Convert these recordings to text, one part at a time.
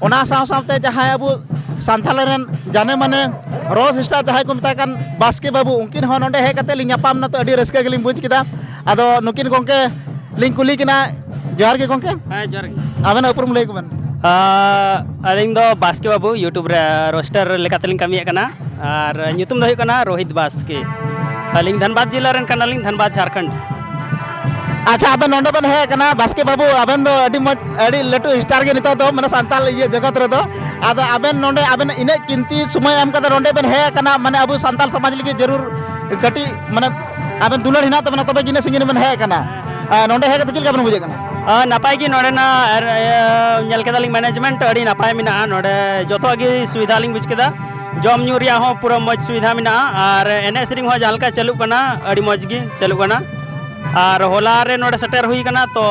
ᱚᱱᱟ ᱥᱟᱶ ᱥᱟᱶᱛᱮ ᱡᱟᱦᱟᱸᱭ ᱟᱵᱚ ᱥᱟᱱᱛᱟᱲ ᱨᱮᱱ ᱡᱟᱱᱮ ᱢᱟᱱᱮ ᱨᱚ ᱥᱤᱥᱴᱟᱨ ᱡᱟᱦᱟᱸᱭ ᱠᱚ ᱢᱮᱛᱟᱭ ᱠᱟᱱ ᱵᱟᱥᱠᱮ ᱵᱟᱹᱵᱩ ᱩᱱᱠᱤᱱ ᱦᱚᱸ ᱱᱚᱰᱮ ᱦᱮᱡ ᱠᱟᱛᱮ ᱞᱤᱧ ᱧᱟᱯᱟᱢ ᱱᱟ ᱛᱚ ᱟᱹᱰᱤ ᱨᱟᱹᱥᱠᱟᱹ ᱜᱮᱞᱤᱧ ᱵᱩᱡᱽ ᱠᱮᱫᱟ ᱟᱫᱚ ᱱᱩᱠᱤᱱ ᱜᱚᱝᱠᱮ ᱞᱤᱧ ᱠᱩᱞᱤ ᱠᱤᱱᱟ ᱡᱚᱦᱟᱨ ᱜᱮ ᱜᱚᱝᱠᱮ ᱦᱮᱸ ᱡᱚᱦᱟᱨ ᱜᱮ ᱟᱵᱮᱱ ᱩᱯᱨᱩᱢ ᱞᱟᱹᱭ ᱠᱚᱵᱮᱱ ᱟᱹᱞᱤᱧ ᱫᱚ ᱵᱟᱥᱠᱮ ᱵᱟᱹᱵᱩ ᱤᱭᱩᱴᱩᱵᱽ ᱨᱮ ᱨᱳᱥᱴᱟᱨ ᱞᱮᱠᱟᱛᱮᱞᱤᱧ ᱠᱟᱹᱢᱤᱭᱮᱫ ᱠᱟᱱᱟ ᱟᱨ ᱧᱩᱛᱩᱢ ᱫᱚ ᱦᱩᱭᱩᱜ ᱠᱟᱱᱟ ᱨᱳᱦᱤᱛ ᱵᱟᱥᱠᱮ ᱟᱹᱞᱤᱧ ᱫᱷᱟᱱᱵᱟᱫᱽ ᱡᱮᱞᱟ ᱨᱮᱱ ᱠᱟᱱᱟᱞᱤᱧ ᱫᱷᱟᱱᱵᱟᱫᱽ ᱡᱷᱟᱲᱠᱷᱚᱸᱰ ᱟᱪᱪᱷᱟ ᱟᱵᱮᱱ ᱱᱚᱰᱮ ᱵᱮᱱ ᱦᱮᱡ ᱟᱠᱟᱱᱟ ᱵᱟᱥᱠᱮ ᱵᱟᱹᱵᱩ ᱟᱵᱮᱱ ᱫᱚ ᱟᱹᱰᱤ ᱢᱚᱡᱽ ᱟᱹᱰᱤ ᱞᱟᱹᱴᱩ ᱥᱴᱟᱨ ᱜᱮ ᱱᱤᱛᱚᱜ ᱫᱚ ᱢᱟᱱᱮ ᱥᱟᱱᱛᱟᱲ ᱤᱭᱟᱹ ᱡᱚᱜᱚᱛ ᱨᱮᱫᱚ ᱟᱫᱚ ᱟᱵᱮᱱ ᱱᱚᱰᱮ ᱟᱵᱮᱱ ᱤᱱᱟᱹᱜ ᱠᱤᱱᱛᱤ ᱥᱚᱢᱚᱭ ᱮᱢ ᱠᱟᱛᱮ ᱱᱚᱰᱮ ᱵᱮᱱ ᱦᱮᱡ ᱟᱠᱟᱱᱟ ᱢᱟᱱᱮ ᱟᱵᱚ ᱥᱟᱱᱛᱟᱲ ᱥᱚᱢᱟᱡᱽ ᱞᱟᱹᱜᱤᱫ ᱡᱟᱹᱨᱩᱲ ᱠᱟᱹᱴᱤᱡ ᱢᱟᱱᱮ ᱟᱵᱮᱱ ᱫᱩᱞᱟᱹᱲ ᱦᱮᱱᱟᱜ ᱛᱟᱵᱮᱱᱟ ᱛᱚᱵᱮ ᱤᱱᱟᱹᱜ ᱥᱟᱺᱜᱤᱧ ᱵᱮᱱ ᱦᱮᱡ ᱟᱠᱟᱱᱟ ᱱᱚᱰᱮ ᱦᱮᱡ ᱠᱟᱛᱮ ᱪᱮᱫ ᱞᱮᱠᱟ ᱵᱮᱱ ᱵᱩᱡᱷᱟᱹᱜ ᱠᱟᱱᱟ ᱱᱟᱯᱟᱭ ᱜᱮ ᱱᱚᱰᱮᱱᱟᱜ ᱧᱮᱞ ᱠᱮᱫᱟᱞᱤᱧ ᱢᱮᱱᱮᱡᱽᱢᱮᱱᱴ ᱟᱹᱰᱤ ᱱᱟᱯᱟᱭ ᱢᱮᱱᱟᱜᱼᱟ ᱱᱚᱰᱮ ᱡᱚᱛᱚᱣᱟᱜ ᱜᱮ ᱥᱩᱵᱤᱫᱷᱟ ᱞᱤᱧ ᱵᱩᱡᱽ ᱠᱮᱫᱟ ᱡᱚᱢ ᱧᱩ ᱨᱮᱭᱟᱜ ᱦᱚᱸ ᱯᱩᱨᱟᱹ ᱢᱚᱡᱽ ᱥᱩᱵᱤᱫᱷᱟ ᱢᱮᱱᱟᱜᱼᱟ ᱟᱨ ᱮᱱᱮᱡ ᱥᱮᱨᱮᱧ ᱦᱚᱸ ᱡᱟᱦᱟᱸ ᱞᱮᱠᱟ ᱪᱟᱹᱞᱩᱜ ᱠᱟᱱᱟ ᱟᱹᱰᱤ ᱢᱚᱡᱽ ᱜᱮ ᱪᱟᱹᱞᱩᱜ ᱠᱟᱱᱟ ᱟᱨ ᱦᱚᱞᱟ ᱨᱮ ᱱᱚᱰᱮ ᱥᱮᱴᱮᱨ ᱦᱩᱭ ᱠᱟᱱᱟ ᱛᱚ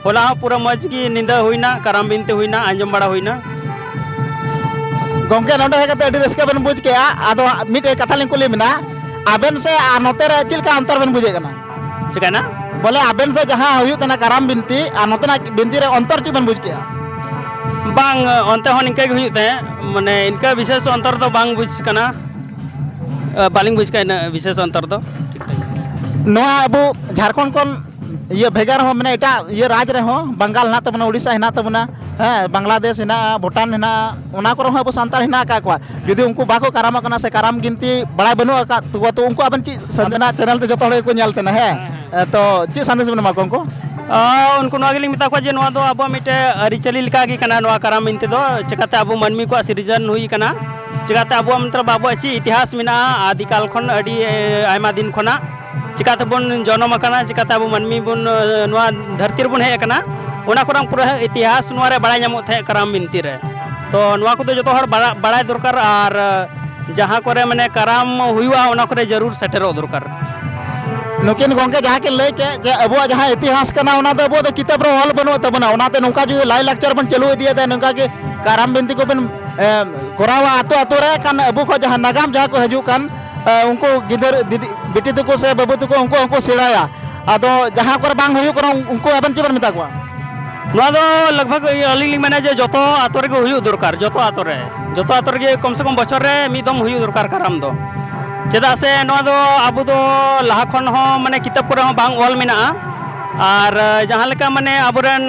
ᱦᱚᱞᱟ ᱦᱚᱸ ᱯᱩᱨᱟᱹ ᱢᱚᱡᱽ ᱜᱮ ᱧᱤᱫᱟᱹ ᱦᱩᱭᱱᱟ ᱠᱟᱨᱟᱢ ᱵᱤᱱᱛᱤ ᱦᱩᱭᱱᱟ ᱟᱸᱡᱚᱢ ᱵᱟᱲᱟ ᱦᱩᱭᱱᱟ ᱜᱚᱝᱠᱮ ᱱᱚᱰᱮ ᱦᱮᱡ ᱠᱟᱛᱮ ᱟᱹᱰᱤ ᱨᱟᱹᱥᱠᱟᱹ ᱵᱮᱱ ᱵᱩᱡᱽ ᱠᱮᱜᱼᱟ ᱟᱫᱚ ᱢᱤᱫᱴᱮᱡ ᱠᱟᱛᱷᱟ ᱞᱤᱧ ᱠᱩᱞᱤ ᱢᱮᱱᱟ ᱟᱵᱮᱱ ᱥᱮ ᱟᱨ ᱱᱚᱛᱮ ᱨᱮ ᱪᱮᱫ ᱞᱮᱠᱟ ᱚᱱᱛᱚᱨ ᱵᱮᱱ ᱵᱩᱡᱮᱫ ᱠᱟᱱᱟ ᱪᱤᱠᱟᱹᱭᱮᱱᱟ ᱵᱚᱞᱮ ᱟᱵᱮᱱ ᱥᱮ ᱡᱟᱦᱟᱸ ᱦᱩᱭᱩᱜ ᱠᱟᱱᱟ ᱠᱟᱨᱟᱢ ᱵᱤᱱᱛᱤ ᱟᱨ ᱱᱚᱛᱮᱱᱟᱜ ᱵᱤᱱᱛᱤ ᱨᱮ ᱚᱱᱛᱚᱨ ᱪᱮᱫ ᱵᱮᱱ ᱵᱩᱡᱽ ᱠᱮᱜᱼᱟ ᱵᱟᱝ ᱚᱱᱛᱮ ᱦᱚᱸ ᱱᱤᱝᱠᱟᱹ ᱜᱮ ᱦᱩᱭᱩᱜ ᱛᱟᱦᱮᱸᱫ ᱢᱟᱱᱮ ᱤᱱᱠᱟᱹ ᱵᱤᱥᱮᱥ ᱚᱱᱛᱚᱨ ᱫᱚ ᱵᱟᱝ ᱵᱩᱡᱽ ᱠᱟᱱᱟ ᱵᱟᱹᱞᱤᱧ ᱵᱩᱡᱽ ᱠᱟᱜᱼᱟ ᱤᱱᱟᱹᱜ ᱵᱤᱥᱮᱥ ᱚᱱᱛᱚᱨ ᱫᱚ ᱴᱷᱤᱠ ᱴᱷᱟᱠ ᱱᱚᱣᱟ ᱟᱵᱚ ᱡᱷᱟᱲᱠᱷᱚᱸᱰ ᱠᱷᱚᱱ ᱤᱭᱟᱹ ᱵᱷᱮᱜᱟᱨ ᱦᱚᱸ ᱢᱟᱱᱮ ᱮᱴᱟᱜ ᱤᱭᱟᱹ ᱨᱟᱡᱽ ᱨᱮᱦᱚᱸ ᱵᱟᱝᱜᱟᱞ ᱦᱮᱱᱟᱜ ᱛᱟᱵᱚᱱᱟ ᱩᱲᱤᱥᱥᱟ ᱦᱮᱱᱟᱜ ᱛᱟᱵᱚᱱᱟ ᱦᱮᱸ ᱵᱟᱝᱞᱟᱫᱮᱥ ᱦᱮᱱᱟᱜᱼᱟ ᱵᱷᱩᱴᱟᱱ ᱦᱮᱱᱟᱜᱼᱟ ᱚᱱᱟ ᱠᱚᱨᱮ ᱦᱚᱸ ᱟᱵᱚ ᱥᱟᱱᱛᱟᱲ ᱦᱮᱱᱟᱜ ᱟᱠᱟᱫ ᱠᱚᱣᱟ ᱡᱩᱫᱤ ᱩᱱᱠᱩ ᱵᱟᱠᱚ ᱠᱟᱨᱟᱢᱚᱜ ᱠᱟᱱᱟ ᱥᱮ ᱠᱟᱨᱟᱢ ᱵᱤᱱᱛᱤ ᱵᱟᱲᱟᱭ ᱵᱟᱹᱱᱩᱜ ᱟᱠᱟᱫ ᱛᱟᱠᱚᱣᱟ ᱛᱚ ᱩᱱᱠᱩ ᱟᱵᱮᱱ ᱪᱮᱫ ᱥᱟᱱᱛᱟᱲᱟᱜ ᱪᱮᱱᱮᱞ ᱛᱮ ᱡᱚᱛᱚ ᱦᱚᱲ ᱜᱮᱠᱚ ᱧᱮᱞ ᱛᱟᱦᱮᱱᱟ ᱦᱮᱸ ᱛᱚ ᱪᱮᱫ ᱥᱟᱸᱫᱮᱥ ᱵᱮᱱ ᱮᱢᱟ ᱠᱚᱣᱟ ᱩᱱᱠᱩ ᱩᱱᱠᱩ ᱱᱚᱣᱟ ᱜᱮᱞᱤᱧ ᱢᱮᱛᱟ ᱠᱚᱣᱟ ᱡᱮ ᱱᱚᱣᱟ ᱫᱚ ᱟᱵᱚᱣᱟᱜ ᱢᱤᱫᱴᱮᱱ ᱟᱹᱨᱤᱪᱟᱹᱞᱤ ᱞᱮᱠᱟᱜᱮ ᱠᱟᱱᱟ ᱱᱚᱣᱟ ᱠᱟᱨᱟᱢ ᱵᱤᱱᱛᱤ ᱫᱚ ᱪᱤᱠᱟᱹᱛᱮ ᱟᱵᱚ ᱢᱟᱹᱱᱢᱤ ᱠᱚᱣᱟᱜ ᱥᱤᱨᱡᱚᱱ ᱦᱩᱭ ᱠᱟᱱᱟ ᱪᱤᱠᱟᱛᱮ ᱟᱵᱚᱣᱟᱜ ᱢᱤᱫᱴᱟᱝ ᱟᱵᱚᱣᱟᱜ ᱪᱮᱫ ᱤᱛᱤᱦᱟᱥ ᱢᱮᱱᱟᱜᱼᱟ ᱟᱫᱤᱠᱟᱞ ᱠᱷᱚᱱ ᱟᱹᱰᱤ ᱟᱭᱢᱟ ᱫᱤᱱ ᱠᱷᱚᱱᱟᱜ ᱪᱤᱠᱟᱛᱮ ᱵᱚᱱ ᱡᱚᱱᱚᱢ ᱟᱠᱟᱱᱟ ᱪᱤᱠᱟᱛᱮ ᱟᱵᱚ ᱢᱟᱹᱱᱢᱤ ᱵᱚᱱ ᱱᱚᱣᱟ ᱫᱷᱟᱹᱨᱛᱤ ᱨᱮᱵᱚᱱ ᱦᱮᱡ ᱟᱠᱟᱱᱟ ᱚᱱᱟ ᱠᱚᱨᱟᱝ ᱯᱩᱨᱟᱹ ᱤᱛᱤᱦᱟᱥ ᱱᱚᱣᱟ ᱨᱮ ᱵᱟᱲᱟᱭ ᱧᱟᱢᱚᱜ ᱛᱟᱦᱮᱸ ᱠᱟᱨᱟᱢ ᱵᱤᱱᱛᱤ ᱨᱮ ᱛᱚ ᱱᱚᱣᱟ ᱠᱚᱫᱚ ᱡᱚᱛᱚ ᱦᱚᱲ ᱵᱟᱲᱟᱭ ᱫᱚᱨᱠᱟᱨ ᱟᱨ ᱡᱟᱦᱟᱸ ᱠᱚᱨᱮ ᱢᱟᱱᱮ ᱠᱟᱨᱟᱢ ᱦᱩᱭᱩᱜᱼᱟ ᱚᱱᱟ ᱠᱚᱨᱮ ᱡᱟᱹᱨᱩᱲ ᱥᱮᱴᱮᱨᱚᱜ ᱫᱚᱨᱠᱟᱨ ᱱᱩᱠᱤᱱ ᱜᱚᱝᱠᱮ ᱡᱟᱦᱟᱸ ᱠᱤᱱ ᱞᱟᱹᱭ ᱠᱮᱫ ᱡᱮ ᱟᱵᱚᱣᱟᱜ ᱡᱟᱦᱟᱸ ᱤᱛᱤᱦᱟᱥ ᱠᱟᱱᱟ ᱚᱱᱟ ᱫᱚ ᱟᱵᱚ ᱫᱚ ᱠᱤᱛᱟᱹᱵ ᱨᱮ ᱚᱞ ᱵᱟᱹᱱᱩᱜ ᱛᱟᱵᱚᱱᱟ ᱚᱱᱟᱛᱮ ᱱᱚᱝᱠᱟ ᱡᱩᱫᱤ ᱞᱟᱭ ᱞᱟᱠᱪᱟᱨ ᱵᱚᱱ ᱪᱟᱹᱞᱩ ᱤᱫᱤᱭᱮᱫᱟ ᱱᱚᱝᱠᱟ ᱜᱮ ᱠᱟᱨᱟᱢ ᱵᱤᱱᱛᱤ ᱠᱚᱵᱚᱱ ᱠᱚᱨᱟᱣᱟ ᱟᱛᱳ ᱟᱛᱳ ᱨᱮ ᱠᱟᱱ ᱟᱵᱚ ᱠᱷᱚᱱ ᱡᱟᱦᱟᱸ ᱱᱟᱜᱟᱢ ᱡᱟᱦᱟᱸ ᱠᱚ ᱦᱤᱡᱩᱜ ᱠᱟᱱ ᱩᱱᱠᱩ ᱜᱤᱫᱟᱹᱨ ᱵᱤᱴᱤ ᱛᱟᱠᱚ ᱥᱮ ᱵᱟᱹᱵᱩ ᱛᱟᱠᱚ ᱩᱱᱠᱩ ᱦᱚᱸᱠᱚ ᱥᱮᱬᱟᱭᱟ ᱟᱫᱚ ᱡᱟᱦᱟᱸ ᱠᱚᱨᱮ ᱵᱟᱝ ᱦᱩᱭᱩᱜ ᱠᱟᱱᱟ ᱩᱱᱠᱩ ᱟᱵᱮᱱ ᱪᱮᱫ ᱵᱮᱱ ᱢᱮᱛᱟ ᱠᱚᱣᱟ ᱱᱚᱣᱟ ᱫᱚ ᱞᱟᱜᱽᱵᱷᱟᱜᱽ ᱟᱹᱞᱤᱧ ᱞᱤᱧ ᱢᱮᱱᱟ ᱡᱮ ᱡᱚᱛᱚ ᱟᱛᱳ ᱨᱮᱜᱮ ᱦᱩᱭᱩᱜ ᱫᱚᱨᱠᱟᱨ ᱡᱚᱛᱚ ᱟᱛᱳ ᱨᱮ ᱡᱚᱛᱚ ᱟᱛᱳ ᱨᱮᱜᱮ ᱠᱚᱢ ᱥᱮ ᱠᱚᱢ ᱵᱚᱪᱷᱚᱨ ᱨᱮ ᱢᱤᱫ ᱫᱚᱢ ᱦᱩᱭᱩᱜ ᱫᱚᱨᱠᱟর ᱠᱟᱨᱟᱢ ᱫᱚ ᱪᱮᱫᱟᱜ ᱥᱮ ᱱᱚᱣᱟ ᱫᱚ ᱟᱵᱚ ᱫᱚ ᱞᱟᱦᱟ ᱠᱷᱚᱱ ᱦᱚᱸ ᱢᱟᱱᱮ ᱠᱤᱛᱟᱹᱵ ᱠᱚᱨᱮ ᱦᱚᱸ ᱵᱟᱝ ᱚᱞ ᱢᱮᱱᱟᱜᱼᱟ ᱟᱨ ᱡᱟᱦᱟᱸ ᱞᱮᱠᱟ ᱢᱟᱱᱮ ᱟᱵᱚᱨᱮᱱ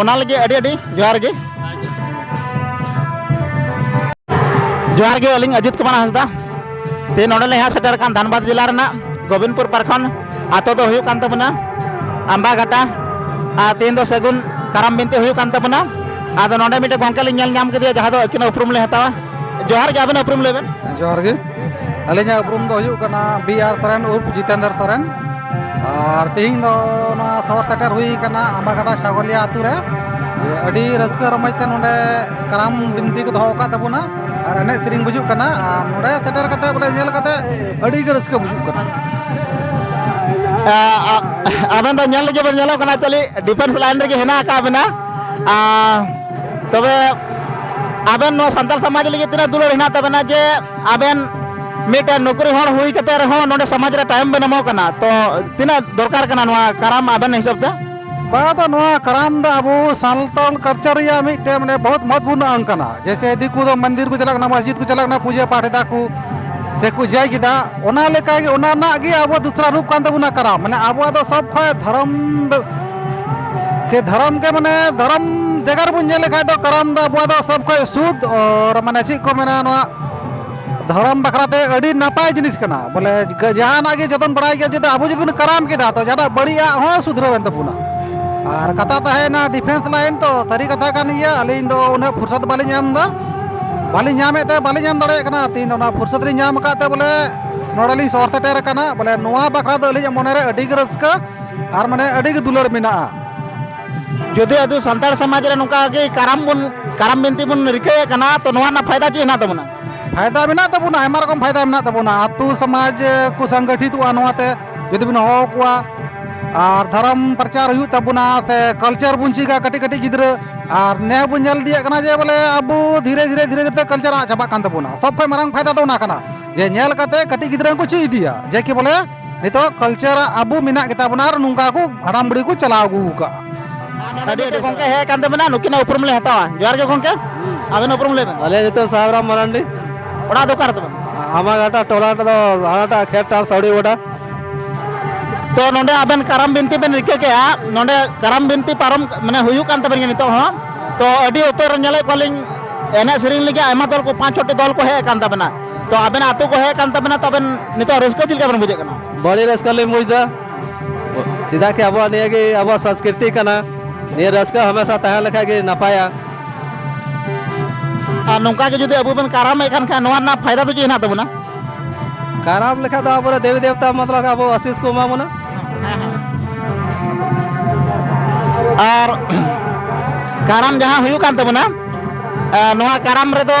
ᱚᱱᱟ ᱞᱟᱹᱜᱤᱫ ᱟᱹᱰᱤ ᱟᱹᱰᱤ ᱡᱚᱦᱟᱨ ᱜᱮ ᱡᱚᱦᱟᱨ ᱜᱮ ᱟᱹᱞᱤᱧ ᱟᱡᱤᱛ ᱠᱩᱢᱟᱨ ᱦᱟᱸᱥᱫᱟ ᱛᱮ ᱱᱚᱰᱮ ᱞᱮ ᱦᱮᱡ ᱥᱮᱴᱮᱨ ᱟᱠᱟᱱ ᱫᱷᱟᱱᱵᱟᱫᱽ ᱡᱮᱞᱟ ᱨᱮᱱᱟᱜ ᱜᱳᱵᱤᱱᱯᱩᱨ ᱯᱟᱨᱠᱷᱚᱸᱰ ᱟᱛᱳ ᱫᱚ ᱦᱩᱭᱩᱜ ᱠᱟᱱ ᱛᱟᱵᱚᱱᱟ ᱟᱢᱵᱟ ᱜᱷᱟᱴᱟ ᱟᱨ ᱛᱮᱦᱮᱧ ᱫᱚ ᱥᱟᱹᱜᱩᱱ ᱠᱟᱨᱟᱢ ᱵᱤᱱᱛᱤ ᱦᱩᱭᱩᱜ ᱠᱟᱱ ᱛᱟᱵᱚᱱᱟ ᱟᱫᱚ ᱱᱚᱰᱮ ᱢᱤᱫᱴᱮᱱ ᱜᱚᱝᱠᱮ ᱞᱤᱧ ᱧᱮᱞ ᱧᱟᱢ ᱠᱮᱫᱮᱭᱟ ᱡᱟᱦᱟᱸ ᱫᱚ ᱟᱹᱠᱤᱱ ᱩᱯᱨᱩᱢ ᱞᱮ ᱦᱟᱛᱟᱣᱟ ᱡᱚᱦᱟᱨ ᱜᱮ ᱟᱵᱮᱱ ᱩᱯᱨᱩᱢ ᱞᱟᱹᱭ ᱵᱮᱱ ᱡᱚᱦᱟᱨ ᱜᱮ ᱟᱹᱞᱤᱧᱟᱜ ᱩᱯᱨᱩᱢ ᱫᱚ ᱦᱩᱭᱩᱜ ᱠᱟᱱᱟ ᱵᱤ ᱟᱨ ᱥᱚᱨᱮᱱ ᱩᱨᱯᱷ ᱡᱤᱛᱮᱱᱫᱨ ᱥᱚᱨᱮᱱ ᱟᱨ ᱛᱮᱦᱮᱧ ᱫᱚ ᱱᱚᱣᱟ ᱥᱚᱦᱚᱨ ᱥᱮᱴᱮᱨ ᱦᱩᱭ ᱟᱠᱟᱱᱟ ᱟᱢᱵᱟᱜᱟᱰᱟ ᱥᱟᱜᱚᱞᱤᱭᱟ ᱟᱛᱳ ᱨᱮ ᱟᱹᱰᱤ ᱨᱟᱹᱥᱠᱟᱹ ᱨᱚᱢᱚᱡᱽ ᱛᱮ ᱱᱚᱰᱮ ᱠᱟᱨᱟᱢ ᱵᱤᱱᱛᱤ ᱠᱚ ᱫᱚᱦᱚ ᱟᱠᱟᱫ ᱛᱟᱵᱚᱱᱟ ᱟᱨ ᱮᱱᱮᱡ ᱥᱮᱨᱮᱧ ᱵᱩᱡᱩᱜ ᱠᱟᱱᱟ ᱟᱨ ᱱᱚᱰᱮ ᱥᱮᱴᱮᱨ ᱠᱟᱛᱮ ᱵᱚᱞᱮ ᱧᱮᱞ ᱠᱟᱛᱮ ᱟᱹᱰᱤ ᱜᱮ ᱨᱟᱹᱥᱠᱟᱹ ᱵᱩᱡᱩᱜ ᱠᱟᱱᱟ ᱟᱵᱮᱱ ᱫᱚ ᱧᱮᱞ ᱞᱟᱹᱜᱤᱫ ᱵᱮᱱ ᱧᱮᱞᱚᱜ ᱠᱟᱱᱟ ᱪᱟᱹᱞᱤ ᱰᱤᱯᱷᱮᱱᱥ ᱞᱟᱭᱤᱱ ᱨᱮᱜᱮ ᱦᱮᱱᱟᱜ ᱟᱠᱟᱫ ᱵᱮᱱᱟ ᱛᱚᱵᱮ ᱟᱵᱮᱱ ᱱᱚᱣᱟ ᱥᱟᱱᱛᱟᱲ ᱥᱚᱢᱟᱡᱽ ᱞᱟᱹᱜᱤᱫ ᱛᱤᱱᱟᱹᱜ ᱫᱩᱞᱟᱹᱲ ᱦᱮᱱᱟᱜ ᱛᱟᱵᱮᱱᱟ ᱡᱮ ᱟᱵᱮᱱ ᱢᱤᱫᱴᱮᱱ ᱱᱚᱠᱨᱤ ᱦᱚᱲ ᱦᱩᱭ ᱠᱟᱛᱮ ᱨᱮᱦᱚᱸ ᱱᱚᱰᱮ ᱥᱚᱢᱟᱡᱽ ᱨᱮ ᱛᱟᱭᱚᱢ ᱵᱮᱱ ᱮᱢᱚᱜ ᱠᱟᱱᱟ ᱛᱚ ᱛᱤᱱᱟᱹᱜ ᱫᱚᱨᱠᱟᱨ ᱠᱟᱱᱟ ᱱᱚᱣᱟ ᱠᱟᱨᱟᱢ ᱟᱵᱮᱱ ᱦᱤᱥᱟᱹᱵ ᱛᱮ ᱵᱟᱝ ᱫᱚ ᱱᱚᱣᱟ ᱠᱟᱨᱟᱢ ᱫᱚ ᱟᱵᱚ ᱥᱟᱱᱛᱟᱲ ᱠᱟᱞᱪᱟᱨ ᱨᱮᱭᱟᱜ ᱢᱤᱫᱴᱮᱱ ᱢᱟᱱᱮ ᱵᱚᱦᱩᱛ ᱢᱚᱦᱚᱛᱯᱩᱨᱱ ᱟᱝ ᱠᱟᱱᱟ ᱡᱮᱭᱥᱮ ᱫᱤᱠᱩ ᱫᱚ ᱢᱚᱱᱫᱤᱨ ᱠᱚ ᱪᱟᱞᱟᱜ ᱠᱟᱱᱟ ᱢᱚᱥᱡᱤᱫ ᱠᱚ ᱪᱟᱞᱟᱜ ᱠᱟᱱᱟ ᱯᱩᱡᱟᱹ ᱯᱟᱴ ᱮᱫᱟ ᱠᱚ ᱥᱮ ᱠᱚ ᱡᱟᱭ ᱠᱮᱫᱟ ᱚᱱᱟ ᱞᱮᱠᱟᱜᱮ ᱚᱱᱟ ᱨᱮᱱᱟᱜ ᱜᱮ ᱟᱵᱚ ᱫᱚᱥᱨᱟ ᱨᱩᱯ ᱠᱟᱱ ᱛᱟᱵᱚᱱᱟ ᱠᱟᱨᱟᱢ ᱢᱟᱱᱮ ᱟᱵᱚᱣᱟᱜ ᱫᱚ ᱥᱚᱵ ᱠᱷᱚᱱ ᱫᱷᱚᱨᱚᱢ ᱠᱮ ᱫᱷᱟᱨᱟᱢ ᱜᱮ ᱢᱟᱱᱮ ᱫᱷᱟᱨᱟᱢ ᱡᱟᱭᱜᱟ ᱨᱮᱵᱚᱱ ᱧᱮᱞ ᱞᱮᱠᱷᱟᱡ ᱫᱚ ᱠᱟᱨᱟᱢ ᱫᱚ ᱟᱵᱚᱣᱟᱜ ᱫᱚ ᱥᱚᱵ ᱠᱷᱚᱡ ᱥᱩᱫ ᱟᱨ ᱢᱟᱱᱮ ᱪᱮᱫ ᱠᱚ ᱢᱮᱱᱟ ᱱᱚᱣᱟ ᱫᱷᱚᱨᱚᱢ ᱵᱟᱠᱷᱨᱟ ᱛᱮ ᱟᱹᱰᱤ ᱱᱟᱯᱟᱭ ᱡᱤᱱᱤᱥ ᱠᱟᱱᱟ ᱵᱚᱞᱮ ᱡᱟᱦᱟᱱᱟᱜ ᱜᱮ ᱡᱚᱛᱚᱱ ᱵᱟᱲᱟᱭ ᱜᱮᱭᱟ ᱡᱩᱫᱤ ᱟᱵᱚ ᱡᱩᱫᱤ ᱵᱚᱱ ᱠᱟᱨᱟᱢ ᱠᱮᱫᱟ ᱛᱚ ᱡᱟᱦᱟᱱᱟᱜ ᱵᱟᱹᱲᱤᱡᱟᱜ ᱦᱚᱸ ᱥᱩᱫᱷᱨᱟᱹᱣ ᱮᱱ ᱛᱟᱵᱚᱱᱟ ᱟᱨ ᱠᱟᱛᱷᱟ ᱛᱟᱦᱮᱸᱭᱮᱱᱟ ᱰᱤᱯᱷᱮᱱᱥ ᱞᱟᱭᱤᱱ ᱛᱚ ᱥᱟᱹᱨᱤ ᱠᱟᱛᱷᱟ ᱠᱟᱱ ᱜᱮᱭᱟ ᱟᱹᱞᱤᱧ ᱫᱚ ᱩᱱᱟᱹᱜ ᱯᱷᱩᱨᱥᱚᱛ ᱵᱟᱹᱞᱤᱧ ᱧᱟᱢ ᱮᱫᱟ ᱵᱟᱹᱞᱤᱧ ᱧᱟᱢᱮᱫ ᱛᱮ ᱵᱟᱹᱞᱤᱧ ᱧᱟᱢ ᱫᱟᱲᱮᱭᱟᱜ ᱠᱟᱱᱟ ᱛᱮᱦᱮᱧ ᱫᱚ ᱚᱱᱟ ᱯᱷᱩᱨᱥᱚᱛ ᱞᱤᱧ ᱧᱟᱢ ᱟᱠᱟᱫ ᱛᱮ ᱵᱚᱞᱮ ᱱᱚᱰᱮᱞᱤᱧ ᱥᱚᱦᱚᱨ ᱥᱮᱴᱮᱨ ᱟᱠᱟᱱᱟ ᱵᱚᱞᱮ ᱱᱚᱣᱟ ᱵᱟᱠᱷᱨᱟ ᱫᱚ ᱟᱹᱞᱤᱧᱟᱜ ᱢᱚᱱᱮᱨᱮ ᱟᱹᱰᱤᱜᱮ ᱨᱟᱹᱥᱠᱟᱹ ᱟᱨ ᱢᱟᱱᱮ ᱟᱹᱰᱤ ᱜᱮ ᱫᱩᱞᱟᱹᱲ ᱢᱮᱱᱟᱜᱼᱟ ᱡᱩᱫᱤ ᱟᱫᱚ ᱥᱟᱱᱛᱟᱲ ᱥᱚᱢᱟᱡᱽ ᱨᱮ ᱱᱚᱝᱠᱟ ᱜᱮ ᱠᱟᱨᱟᱢ ᱵᱚᱱ ᱠᱟᱨᱟᱢ ᱵᱤᱱᱛᱤ ᱵᱚᱱ ᱨᱤᱠᱟᱹᱭᱮᱫ ᱠᱟᱱᱟ ᱛᱚ ᱱᱚᱣᱟ ᱨᱮᱱᱟᱜ ᱯᱷᱟᱭᱫᱟ ᱪᱮᱫ ᱦᱮᱱᱟᱜ ᱛᱟᱵᱚᱱᱟ ᱯᱷᱟᱭᱫᱟ ᱢᱮᱱᱟᱜ ᱛᱟᱵᱚᱱᱟ ᱟᱭᱢᱟ ᱨᱚᱠᱚᱢ ᱯᱷᱟᱭᱫᱟ ᱢᱮᱱᱟᱜ ᱛᱟᱵᱚᱱᱟ ᱟᱛᱳ ᱥᱚᱢᱟᱡᱽ ᱠᱚ ᱥᱚᱝᱜᱚᱴᱷᱤᱛᱚᱜᱼᱟ ᱱᱚᱣᱟᱛᱮ ᱡᱩᱫᱤ ᱵᱚᱱ ᱦᱚᱦᱚ ᱠᱚᱣᱟ ᱟᱨ ᱫᱷᱚᱨᱚᱢ ᱯᱨᱚᱪᱟᱨ ᱦᱩᱭᱩᱜ ᱛᱟᱵᱚᱱᱟ ᱥᱮ ᱠᱟᱞᱪᱟᱨ ᱵᱚᱱ ᱪᱮᱫᱟ ᱠᱟᱹᱴᱤᱡ ᱠᱟᱹᱴᱤᱡ ᱜᱤᱫᱽᱨᱟᱹ ᱟᱨ ᱱᱮ ᱵᱚᱱ ᱧᱮᱞ ᱤᱫᱤᱭᱮᱫ ᱠᱟᱱᱟ ᱡᱮ ᱵᱚᱞᱮ ᱟᱵᱚ ᱫᱷᱤᱨᱮ ᱫᱷᱤᱨᱮ ᱫᱷᱤᱨᱮ ᱫᱷᱤᱨᱮ ᱠᱟᱞᱪᱟᱨ ᱟᱫ ᱪᱟᱵᱟᱜ ᱠᱟᱱ ᱛᱟᱵᱚᱱᱟ ᱥᱚᱵ ᱠᱷᱚᱱ ᱢᱟᱨᱟᱝ ᱯᱷᱟᱭᱫᱟ ᱫᱚ ᱚᱱᱟ ᱠᱟᱱᱟ ᱡᱮ ᱧᱮᱞ ᱠᱟᱛᱮ ᱠᱟᱹᱴᱤᱡ ᱜᱤᱫᱽᱨᱟᱹ ᱦᱚᱸᱠᱚ ᱪᱮᱫ ᱤᱫᱤᱭᱟ ᱡᱮ ᱠᱤ ᱵᱚᱞᱮ ᱱᱤᱛᱚᱜ ᱠᱟᱞᱪᱟᱨ ᱟᱵᱚ ᱢᱮᱱᱟᱜ ᱜᱮᱛᱟ ᱵᱚᱱᱟ ᱟᱨ ᱱᱚᱝᱠᱟ ᱠᱚ ᱦᱟᱲᱟᱢ ᱵᱩᱲᱦᱤ ᱠᱚ ᱪᱟᱞᱟᱣ ᱟᱹᱜᱩ ᱟᱠᱟᱫᱼᱟ ᱟᱹᱰᱤ ᱟᱹᱰᱤ ᱜᱚᱝᱠᱮ ᱦᱮᱡ ᱠᱟᱱ ᱛᱟᱵᱮᱱᱟ ᱱᱩᱠᱤᱱᱟᱜ ᱩᱯᱨᱩᱢ ᱞᱮ ᱦᱟᱛᱟᱣᱟ ᱡᱚᱦᱟᱨ ᱜᱮ ᱜᱚᱝᱠᱮ ᱟᱵᱮᱱ ᱩᱯᱨᱩᱢ ᱞᱟᱹᱭ ᱵᱮᱱ ᱟᱞᱮ ᱱᱤᱛᱚᱜ ᱥᱟᱦᱟᱵᱽᱨᱟᱢ ᱢᱟᱨᱟᱱᱰᱤ ᱚᱲᱟᱜ ᱫᱚ ᱚᱠᱟᱨᱮ ᱛᱟᱵᱮᱱ ᱟᱢᱟᱜᱟᱴᱟ ᱴᱚᱞᱟ ᱫᱚ ᱦᱟᱱᱟᱴᱟᱜ ᱠᱷᱮᱛ ᱴᱟᱨ ᱥᱟᱣᱲᱤ ᱜᱚᱰᱟ ᱛᱚ ᱱᱚᱰᱮ ᱟᱵᱮᱱ ᱠᱟᱨᱟᱢ ᱵᱤᱱᱛᱤ ᱵᱮᱱ ᱨᱤᱠᱟᱹ ᱠᱮᱜᱼᱟ ᱱᱚᱰᱮ ᱠᱟᱨᱟᱢ ᱵᱤᱱᱛᱤ ᱯᱟᱨᱚᱢ ᱢᱟᱱᱮ ᱦᱩᱭᱩᱜ ᱠᱟᱱ ᱛᱟᱵᱮᱱ ᱜᱮᱭᱟ ᱱᱤᱛᱚᱜ ᱦᱚᱸ ᱛᱚ ᱟᱹᱰᱤ ᱩᱛᱟᱹᱨ ᱧᱮᱞᱮᱫ ᱠᱚᱣᱟᱞᱤᱧ ᱮᱱᱮᱡ ᱥᱮᱨᱮᱧ ᱞᱟᱹᱜᱤᱫ ᱟᱭᱢᱟ ᱫᱚᱞ ᱠᱚ ᱯᱟᱸᱪ ᱪᱷᱚᱴᱤ ᱫᱚᱞ ᱠᱚ ᱦᱮᱡ ᱟᱠᱟᱱ ᱛᱟᱵᱮᱱᱟ ᱛᱚ ᱟᱵᱮᱱ ᱟᱛᱳ ᱠᱚ ᱦᱮᱡ ᱠᱟᱱ ᱛᱟᱵᱮᱱᱟ ᱛᱚ ᱟᱵᱮᱱ ᱱᱤᱛᱚᱜ ᱨᱟᱹᱥᱠᱟᱹ ᱪᱮᱫ ᱞᱮᱠᱟ ᱵᱮᱱ ᱵᱩᱡᱷᱟᱹᱜ ᱠᱟᱱᱟ ᱵᱟᱹᱲᱤ ᱨᱟᱹᱥᱠᱟᱹ ᱞᱤᱧ ᱵᱩᱡᱽᱫᱟ ᱪᱮᱫᱟᱜ ᱠᱤ ᱟᱵᱚᱣᱟᱜ ᱱᱤᱭᱟᱹ ᱜᱮ ᱟᱵᱚᱣᱟᱜ ᱥᱚᱝᱥᱠᱨᱤᱛᱤ ᱠᱟᱱᱟ ᱱᱤᱭᱟᱹ ᱨᱟᱹᱥᱠᱟᱹ ᱦᱟᱢᱮᱥᱟ ᱛᱟᱦᱮᱸ ᱞᱮᱠᱷᱟᱡ ᱜᱮ ᱱᱟᱯᱟᱭᱟ ᱟᱨ ᱱᱚᱝᱠᱟ ᱜᱮ ᱡᱩᱫᱤ ᱟᱵᱚ ᱵᱚᱱ ᱠᱟᱨᱟᱢᱮᱫ ᱠᱟᱱ ᱠᱷᱟᱱ ᱱᱚᱣᱟ ᱨᱮᱱᱟᱜ ᱯᱷᱟᱭᱫᱟ ᱫᱚ ᱪᱮᱫ ᱦᱮᱱᱟᱜ ᱛᱟᱵᱚᱱᱟ ᱠᱟᱨᱟᱢ ᱞᱮᱠᱷᱟᱡ ᱫᱚ ᱟᱵᱚᱨᱮ ᱫᱮᱵᱤ ᱫᱮᱵᱛᱟ ᱢᱚᱛᱞᱚᱵ ᱟᱵᱚ ᱟᱥᱤᱥ ᱠᱚ ᱮᱢᱟ ᱵᱚᱱᱟ ᱟᱨ ᱠᱟᱨᱟᱢ ᱡᱟᱦᱟᱸ ᱦᱩᱭᱩᱜ ᱠᱟᱱ ᱛᱟᱵᱚᱱᱟ ᱱᱚᱣᱟ ᱠᱟᱨᱟᱢ ᱨᱮᱫᱚ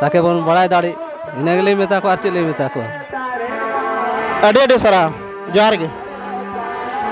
ᱛᱟᱠᱮ ᱵᱚᱱ ᱵᱟᱲᱟᱭ ᱫᱟᱲᱮᱜ ᱤᱱᱟᱹ ᱜᱮᱞᱤᱧ ᱢᱮᱛᱟ ᱠᱚᱣᱟ ᱟᱨ ᱪᱮᱫ ᱞᱤᱧ ᱢᱮᱛᱟ ᱠᱚᱣᱟ ᱟᱹᱰᱤ ᱟᱹᱰᱤ ᱥᱟᱨᱦᱟᱣ ᱡᱚᱦᱟᱨ ᱜᱮ